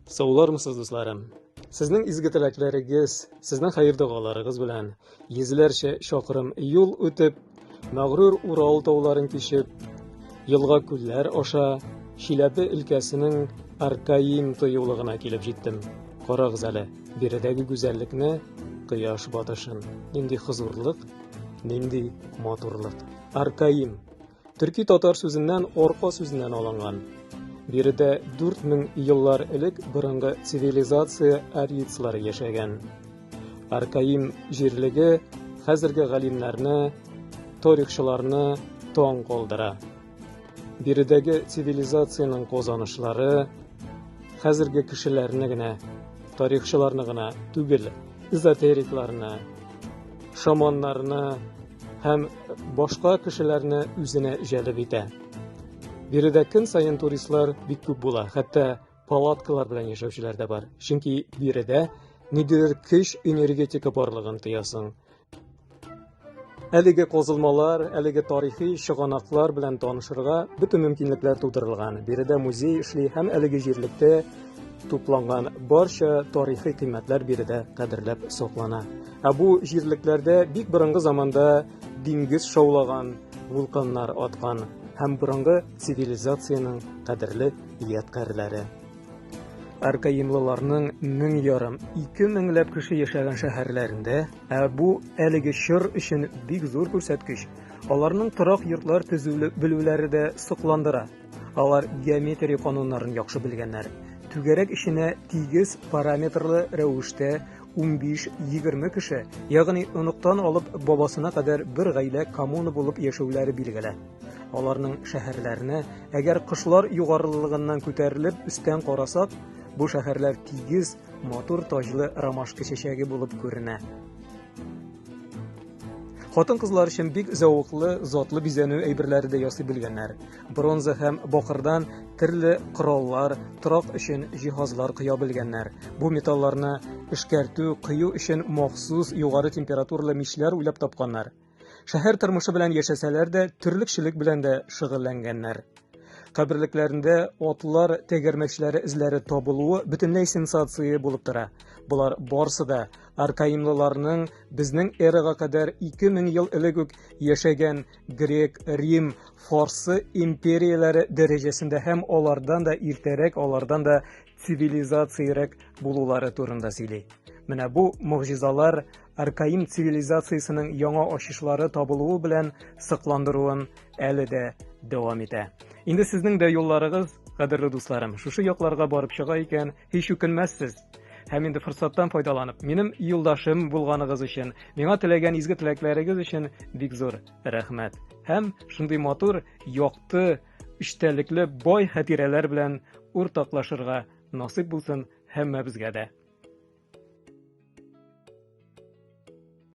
Саулармысыз, дусларым! Сезнең изге теләкләрегез, сезнең хәер догаларыгыз белән йөзләрчә чакрым юл үтеп, мәгърур Урал тауларын кичеп, елга күлләр аша Чиләбе өлкәсенең Аркаим тоюлыгына килеп җиттем. Карагыз әле, биредәге гүзәллекне, кояш батышын. Нинди хозурлык, нинди матурлык. Аркаим Төрки татар сүзеннән орка сүзеннән алынган. Биредә 4000 еллар элек борынгы цивилизация арийцлары яшәгән. Аркаим җирлеге хәзерге галимнәрне, тарихчыларны таң калдыра. Биредәге цивилизациянең казанышлары хәзерге кешеләрне генә, тарихчыларны гына түгел, эзотерикларны, шаманнарны, һәм башка кешеләрне үзенә җәлеп итә. Биредә көн саен туристлар бик күп була, хәтта палаткалар белән яшәүчеләр дә бар. Чөнки биредә ниндидер көч энергетика барлыгын тоясың. Әлеге козылмалар, әлеге тарихи чыганаклар белән танышырга бөтен мөмкинлекләр тудырылган. Биредә музей эшли һәм әлеге җирлектә тупланган барча тарихи кыйммәтләр биредә кадерләп саклана. Ә бу җирлекләрдә бик борынгы заманда диңгез шаулаган, вулканнар аткан һәм борынгы цивилизациянең кадерле ядкарьләре. Аркаимлыларның мең ярым, ике меңләп кеше яшәгән шәһәрләрендә, ә бу әлеге чор өчен бик зур күрсәткеч. Аларның торак йортлар төзүле белүләре дә сокландыра. Алар геометрия кануннарын яхшы белгәннәр. Түгәрәк эченә тигез параметрлы рәвештә 15-20 кеше, ягъни оныктан алып бабасына кадәр бер гаилә коммуна булып яшәүләре билгеле. Аларның шәһәрләренә, әгәр кошлар югарылыгыннан күтәрелеп өстән карасак, бу шәһәрләр тигез, матур таҗлы ромашка чәчәге булып күренә. Хатын-кызлар өчен бик зәвыклы, затлы бизәнү әйберләре дә ясый белгәннәр. бронза һәм бакырдан төрле кораллар, торак өчен җиһазлар коя белгәннәр. Бу металларны эшкәртү, кыю өчен махсус югары температуралы мичләр уйлап тапканнар. Шәһәр тормышы белән яшәсәләр дә, төрлекчелек белән дә шөгыльләнгәннәр. Каберлекләрендә атлар тәгәрмәчләре эзләре табылуы бөтенләй сенсация булып тора. Болар барсы да аркаимлыларның безнең эрага кадәр 2000 ел элек үк яшәгән грек, рим, фарсы империяләре дәрәҗәсендә һәм алардан да иртәрәк, алардан да цивилизациярәк булулары турында сөйли. Менә бу могҗизалар аркаим цивилизациясенең яңа ачышлары табылуы белән сыкландыруын әле дә дәвам итә. Инде сезнең дә юлларыгыз, кадерле дусларым, шушы якларга барып чыга икән, һич үкенмәссез. Һәм инде форсаттан файдаланып, минем юлдашым булганыгыз өчен, миңа теләгән изге теләкләрегез өчен бик зур рәхмәт. Һәм шундый матур, якты, үчтәлекле, бай хатирәләр белән уртаклашырга насыйп булсын һәммәбезгә дә.